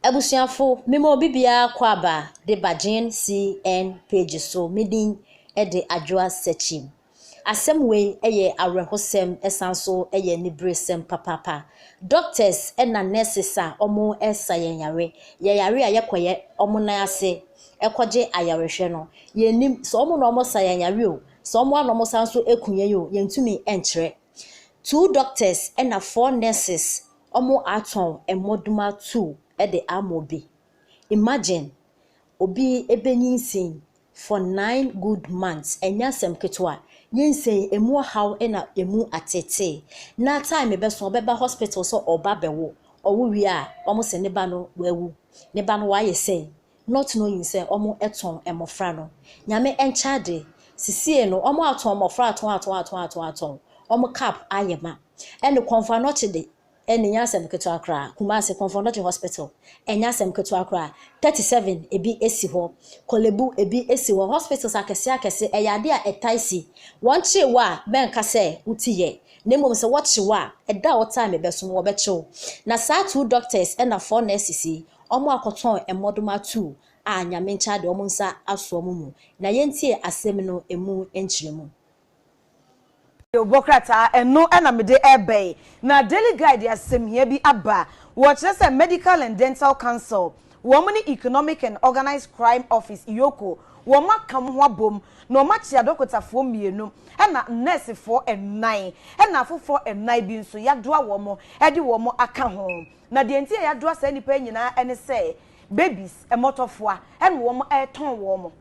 Abusuafo, mema obi biara kɔ aba de ba GNCN page so, me din de Adwoa Sekyim. Asɛm wei yɛ awerɛhosɛm ɛsan nso yɛ aniberesɛm papaapa. Doctors na nurses a wɔsa yɛn yare, yɛyare a yɛkɔyɛ wɔn nan ase kɔgye ayarehwɛ no, yɛnnim sɛ wɔn na wɔsa yɛn yare o, sɛ wɔn ara na wɔsan nso ku yɛn o, yɛntumi nkyerɛ. Two doctors na four nurses ɔmo atɔn mmɔdoma two de ama obi. Imagine obi bɛnyinsen for nine good months, ɛnyɛ asɛm ketewa. Nyinsɛn emu ɔhaw na emu ateetee. Na time bɛso ɔbɛba hospital sɛ ɔɔba abɛwo. Ɔwo wie a ɔmo se ne ba no wawu. Ne ba no wayɛ sɛn? not knowing sɛ ɔmo tɔn mmɔfra no, Nyame nkyɛ ade, sisiei no ɔmo atɔn mmɔfra atɔn atɔn atɔn atɔn atɔn, ɔmo cap ayɛ ma, ɛne Komfo Anokye de, ɛne nyɛ asɛm ketewa koraa, Kumasi Komfo Anokye Hospital, ɛnyɛ asɛm ketewa koraa, thirty seven ebi si hɔ, Korlebu ebi si hɔ, hospitals akɛse akɛse, ɛyɛ ade a ɛtae si, wɔn kyee wo a mɛnka sɛ wo ti yɛ, na mmom sɛ wɔkye wo a, ɛda a wɔtaa me bɛso no wɔbɛkye wo, na saa two doctors ɛna four nurses yi wɔakɔtɔn mmɔdoma tuu a Nyamenkya de wɔn nsa asoɔ mo mu, na yɛntie asem no emu nkyerɛmu. Deobɔ krataa, ɛno na mede reba yi, na Daily Guide de asɛmhia bi aba, wɔkyerɛ sɛ Medical and Dental Council, wɔn ne Economic and Organised Crime Office, EOCO, wɔn aka wɔn ho abom, na wɔn akye adɔkotafoɔ mmienu, ɛna nɛɛsefoɔ nnan, ɛna afoforɔ nnan bi nso yɛadoa wɔn de wɔn aka ho. Na deɛ nti a yɛadoa saa nnipa yi nyinaa ne sɛ, babies, mmɔtɔfoa, ɛna wɔn retɔn wɔn.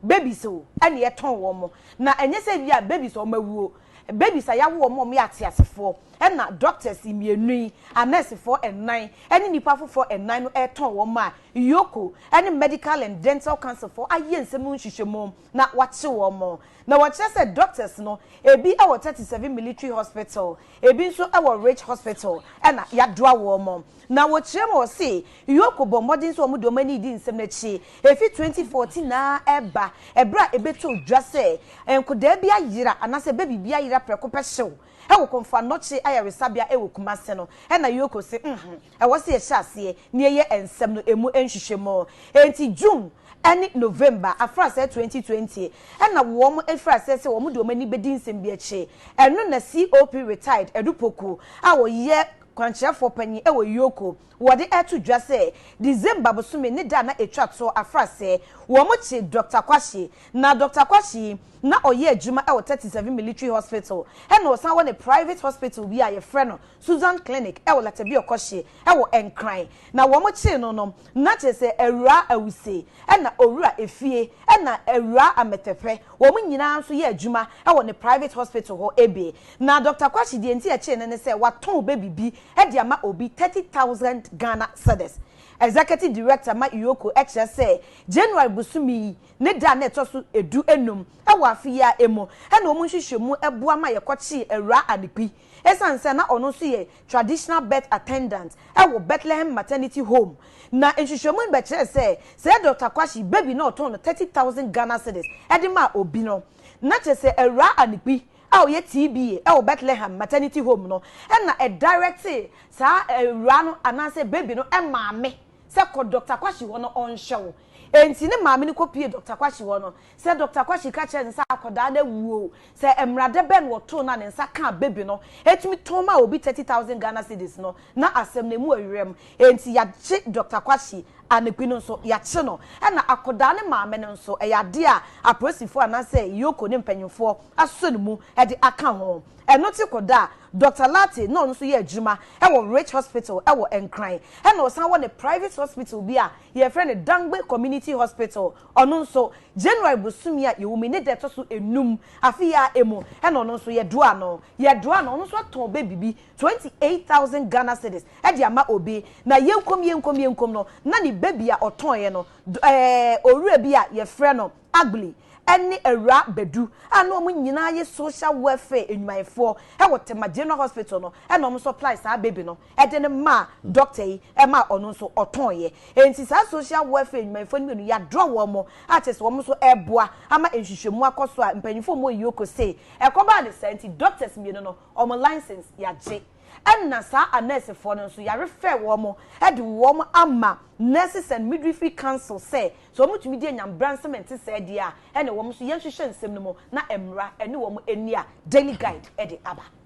Babies o, ɛna yɛtɔn wɔn. Na ɛnyɛ sɛ ebia babies a wɔawuo, babies a yɛawo wɔn a wɔyɛ ateasefoɔ, ɛna doctors mmienu yi, anɛɛsefoɔ nnan, ne nnipa afoforɔ nnan no retɔn wɔn a Yoko ne Medical and Dental Councilfoɔ ayɛ nsɛm ho nhwehwɛmu na wɔakye wɔn. Na wɔkyerɛ sɛ doctors no, ebi wɔ thirty seven Military Hospital, Ebi nso wɔ Ridge Hospital na yɛadoa wɔn. Na wɔkyerɛ mu a wɔse, Yoko bɔ mmɔden sɛ wɔde wɔn ani redi nsɛm no akyi efi 2014 ara reba, bere a ebetoo dwa sɛ nkodaa bi ayera anaasɛ baby bi ayera prɛko pɛ hyew wɔ Komfo Anokye Ayaresabea wɔ Kumasi no. Ɛnna Yoko se, Mhmm. Ɛwɔ sɛ yɛhyɛ aseɛ na yɛyɛ nsɛm no ɛmu nhwehwɛmu. Enti June ne November afraseɛ 2020 ɛna wɔn firi aseɛ sɛ wɔn de wɔn ani bɛdi nsɛm bi akyi. Ɛno na COP Retired Adu Poku a ɔyɛ kwankyerɛfoɔ panin ɛwɔ Yoko wɔde ɛto dwa sɛ December bosome ne da a na ɛtwa toɔ afraseɛ wɔn kye Doctor Kwashe. Na Doctor Kwashe yi na ɔyɛ adwuma ɛwɔ 37 Military Hospital ɛna ɔsan wɔ ne private hospital bi a yɛfrɛ no Susan Clinic wɔ Latabia kɔhye wɔ Nkran na wɔn kyee no no na kyerɛ sɛ Awuraa Awuse na Owura Efie na Awuraa Amɛtɛpɛ wɔn nyinaa nso yɛ adwuma wɔ ne private hospital hɔ bi na Doctor Kwasi deɛ nti ɛkyee no ne sɛ watɔn baby bi de ama obi thirty thousand Ghana cedis Executive Director ma Ioko kyerɛ sɛ January bosome yi ne da a na ɛtɔ so du nnum wɔ afe yi ara mu na wɔn nhwehwɛmu boa ma yɛkɔkyee Awuraa Anekwi Esiane sɛ na ɔno nso yɛ traditional birth attendant wɔ Bethlehem Maternity Home, na nhwehwɛmu no bɛkyerɛɛ sɛ sɛ Dɔkta Kwashi baby no ɔtɔn no thirty thousand Ghana cedis de ma obi no, na kyerɛ sɛ Awuraa Anigbi a ɔyɛ TBA wɔ Bethlehem Maternity Home no na directee saa awuraa no anaasɛ baby no maame sɛ kɔ Dɔkta Kwashi hɔ na ɔnhwɛ wo. Enti ne maame no kɔpuee Dɔkta Kwashi hɔ no, Sɛ Dɔkta Kwasi ka kyerɛ no sɛ akwadaa no awu oo, sɛ mmara dɛ bɛn wɔ too no a ne nsa kaa baby no, ɛtumi tɔn maa obi thirty thousand Ghana cedis no, na asɛm no ɛmu ɛyerɛm. Ɛnti yagye Dɔkta Kwasi, Anekwi no nso yagye no. Ɛna akwadaa no maame no nso, ɛyɛ adeɛ a apolisifoɔ anaasɛ Yoko ne mpanyinfoɔ asɔ ne mu de aka ho. Ɛno te kɔ da a, Dɔkta Lartey na ɔno nso yɛ adwuma wɔ Rich Hospital wɔ Nkran, ɛna ɔsan wɔ ne private hospital bi a yɛfrɛ no Dangbe Community Hospital, Ɔno nso, January bosome a yɛwɔ mu yi ne da ɛtɔ so enum afe yi ara mu na ɔno nso yɛdoaa no. Yɛdoaa no, ɔno nso ɔtɔn baby bi twenty eight thousand Ghana cedis de ama obi. Na yɛnkom yɛnkom yɛnkom no, na ne baby a ɔtɔeɛ no, ɛɛ, owura bi a yɛfrɛ no Agbli ne Awuraa Badu a na wɔn nyinaa yɛ social welfare nnwumayɛfoɔ wɔ Tema General Hospital no na wɔn nso apply saa baby no. de no maa dɔkta yi ma ɔno nso ɔtɔeɛ. Enti saa social welfare nnwumayɛfoɔ no mmienu yɛadrɔ wɔn mo a kyerɛ sɛ wɔn nso reboa ama nhwehwɛmu akɔ so a mpanimfoɔ mmɔ yioko sei. Ɛkɔbaa no saa nti dɔktas mmienu no wɔn license yɛagye. Ɛna saa anɛɛsefoɔ no nso yɛarefɛɛ wɔn mo de wɔn ama Nurses and Midwifery Council sɛ sɛ wɔn tumi di anya mmbransɛm a ɛnte saa di a ɛne wɔn nso yɛnhwehwɛ nsɛm no mu na mmra ne wɔn ani a Daily Guide de aba.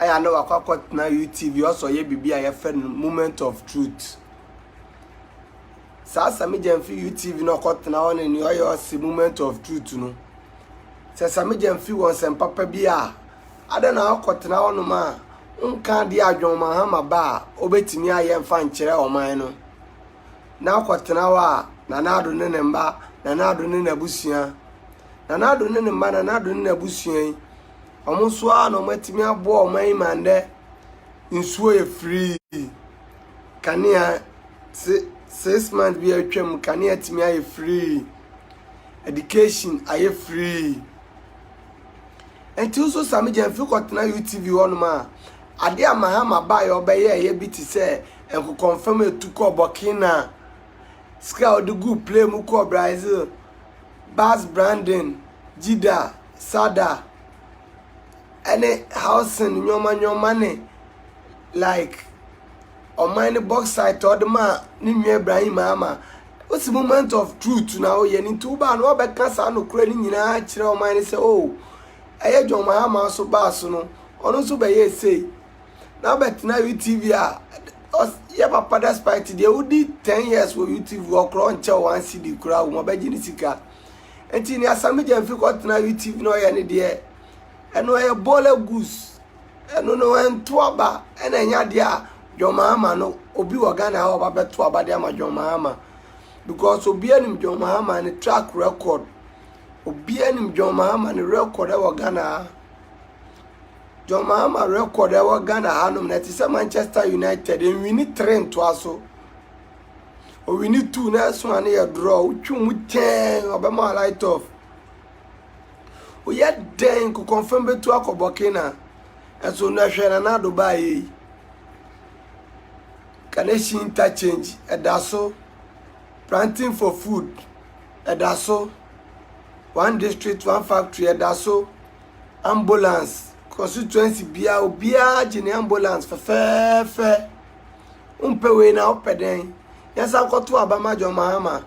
ayɛ a na wakɔ akɔtena UTV ɔsɛ ɔyɛ biribi a yɛfrɛ no moment of truth saa samigya mfi UTV na ɔkɔtena hɔ ne nea ɔyɛ ɔsɛ moment of truth no sɛ samigya mfi wɔn nsɛm papa bi a ada na akɔtena hɔnom a nka adeɛ a John Mahama ba a ɔbɛtumi ayɛ mfa nkyerɛ ɔman no na akɔtena hɔ a nanaado ne ne mma nanaado ne n'abusua nanaado ne ne mma nanaado ne n'abusua yi Ɔmo nso a na ɔmo atumi aboa ɔmo ayi ma ndɛ nsuo yɛ free kanea se six months bi a atwa mu kanea atumi ayɛ free education ayɛ free nti nso sami gyɛn mfe kɔtena utv hɔnom a ade a mahama baa yɛ ɔbɛyɛ ɛyɛ bi te sɛ nkokɔnfam etu kɔ burkina sika a ɔde gu play mu kɔ brazil bas brandon jida. Sada ɛne housing nnoɔma nnoɔma ne like ɔman no box site a ɔde maa ne nua Ibrahim Mahama wosi moment of truth na woyɛ no nti wobaa no wabɛka saa nokorɛ no nyinaa akyerɛ ɔman no sɛ o oh, ɛyɛ John Mahama so baa so no ɔno nso bɛyɛ sei na wobɛtena UTV a yɛ papa despite deɛ wodi ten years wɔ UTV ɔkorɔ nkyɛ wɔn asidi koraa wɔn abɛgye ne sika. nti nea Sammy Gyamfi kɔtena UTV na ɔyɛ ne deɛ ɛno ɛyɛ bɔɔla gus ɛno no ɛnto aba ɛna ɛnyɛ adeɛ a John Mahama no obi wɔ Ghana a ɔba bɛto aba de ama John Mahama because obi anim John Mahama ne track record obi anim John Mahama ne record ɛwɔ Ghana ha John Mahama record ɛwɔ Ghana hanom na ɛte sɛ Manchester United nwini tere ntoa so Owi no tu na ɛso a ne yɛ dorɔ. Wotwi mu tɛɛn ɔbɛma wa light off. Woyɛ dɛn kokɔnfɛn bɛtu akɔbɔ kena. Ɛso no ɛhwɛ na n'ado baa yɛ yi. Kaneshi interchange ɛda so. Planting for food ɛda so. One district one factory ɛda so. Ambulance constituency biara obiara gye ne ambulance fɛfɛɛfɛ. Wompɛ wei na wopɛ dɛn? Yɛnsan nkɔto aba ma John Mahama.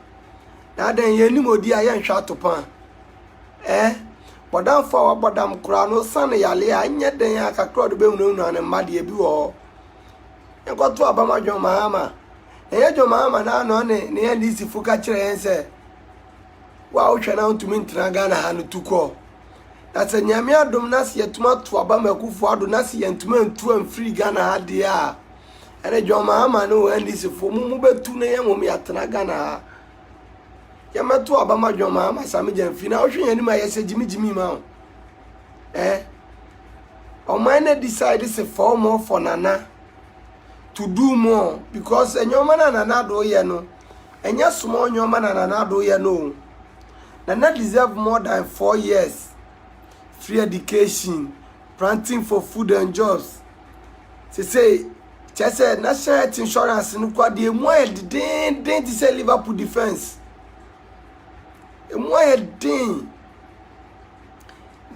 Na adɛn yɛnnim odi a yɛnhwɛ atopɔn a? Ɛɛ, bɔdamfo a wabɔ dam koraa na osian ne yaleɛ a, ɛnyɛ dɛn a kakra a ɔde bɛhunahuna ne mma deɛ bi wɔ hɔ. Yɛnkɔto aba ma John Mahama. Na ɛnyɛ John Mahama no ara na ɔne ne NDC fo ka kyerɛ yɛn sɛ, wo a wohwɛ na wontumi ntena Ghana ha no tu kɔ. Na sɛ Nyame adom na sɛ yɛtumi ato aba ma Akufo Addo na sɛ yɛntumi antu amfiri Ghana ha deɛ a, ɛne John Mahama ne wɔn NDC fo mo mo bɛtu na yɛn wɔn yɛatena Ghana ha. Yɛmɛto aba ma John Mahama Sami Gyamfi na wohwɛ yɛn anim a yɛsɛ gyimi gyimi ma wo. Eh? Ɔman na decide sɛ fa wɔn for Nana to do more because ɛnyɛ ɔman a Nana Addo yɛ no ɛnyɛ small nneɛma na Nana Addo yɛ no o. Nana deserve more than four years free education, planting for food and jobs. Sesei kyerɛ sɛ national health insurance no kora deɛ emu ayɛ dedeenden te sɛ Liverpool defence. Emu ayɛ den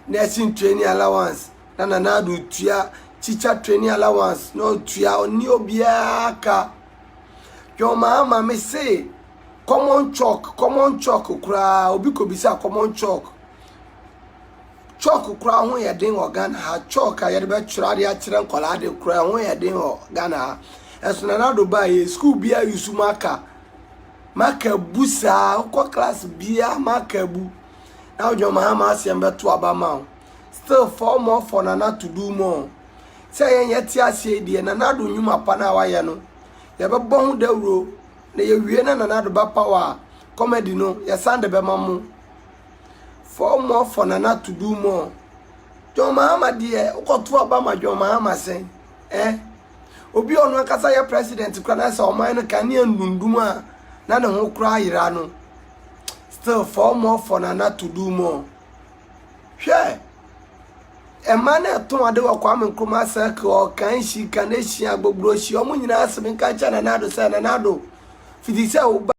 nursing training allowance na Nana Addo tua teacher training allowance na ɔtua ɔne obiara ka. John Mahama me se common chalk common chalk koraa obi kɔ bisa common chalk chalk koraa ho yɛ den wɔ Ghana ha chalk a yɛde bɛtwerɛ ade akyerɛ nkwadaa de koraa ho yɛ den wɔ Ghana ha ɛso na nado baa yɛ sukuu bi a yusu maka maka bu saa wokɔ class bia maka bu na John Mahama asɛm bɛto aba ma wo still four more for nana to do more. Sɛ yɛn yɛte aseɛ yi deɛ Nana Addo nnwuma pa no a wayɛ no yɛbɛbɔ ho dawuro na yɛwie na Nana Addo bɛpaw a comedy no yɛsan de bɛma mo. Four more for Nana to do more. John Mahama deɛ wokɔto aba ma John Mahama sɛn eh? Obi a ɔno ankasa yɛ president kora na sɛ ɔman no kan ne andundum a na ne ho koraa yera no. Still four more for Nana to do more. Hwɛ! Mmaa no a ɛtɔn ade wɔ Kwame Nkrumah Circle, Ɔkanhyi, Kaneshie, Agbogbroshie, wɔn nyinaa asem nka nkyerɛ Nana Addo sɛ, Nana Addo, fiti sɛ wo ba,